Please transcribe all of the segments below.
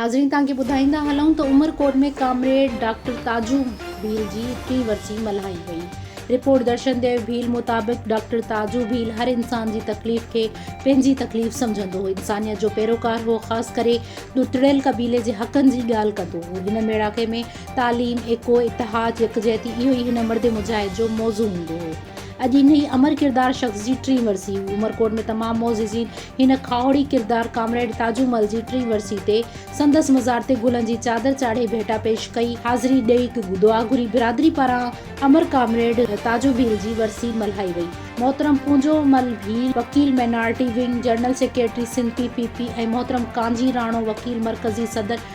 ناظرين توهان کي ٻڌائيندا هلون ته عمرڪوٽ ۾ ڪامريڊ ڊاڪٽر تاجو ڀيل جي ٽين ورسي ملهائي وئي رپورٽ درشن ديو ڀيل مطابق ڊاڪٽر تاجو ڀيل هر انسان جي تڪليف کي پنهنجي تڪليف سمجهندو هو انسانيت جو پيروڪار هو خاص ڪري ڏتڙيل قبيلي جي حقن جي ڳالهه ڪندو هو هن ميڙاڪي ۾ تعليم، ايڪو، اتحاد، يڪجهتي اهو ئي هن مرد مجاهد جو موضوع هوندو هو. اڄ انهيء امر ڪردار شخص جي ٽين ورسي هئي. عمرڪوٽ ۾ تمام معززين هن کاهوڙي ڪردار ڪامريڊ تاجو مل جي ٽين ورسي تي سندس مزار تي گلن جي چادر چاڙهي ڀيٽا پيش ڪئي، حاضري ڏئي، دعا گهري، برادري پاران امر ڪامريڊ تاجو ڀيل جي ورسي ملهائي وئي. محترم پونجو مل ڀيل، وڪيل minority wing, general secretary Sindh P P P ۽ محترم ڪانجي راڻو، وڪيل مرڪزي صدر،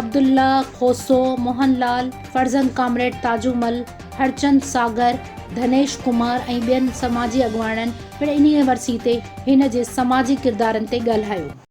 عبدالله کوسو، موهن لال، فرزند ڪامريڊ تاجومل، هرچند ساگر، ڌنيش ڪمار ۽ ٻين سماجي اڳواڻن پڻ انهيء ورسي تي هن جي سماجي ڪردارن تي ڳالهايو.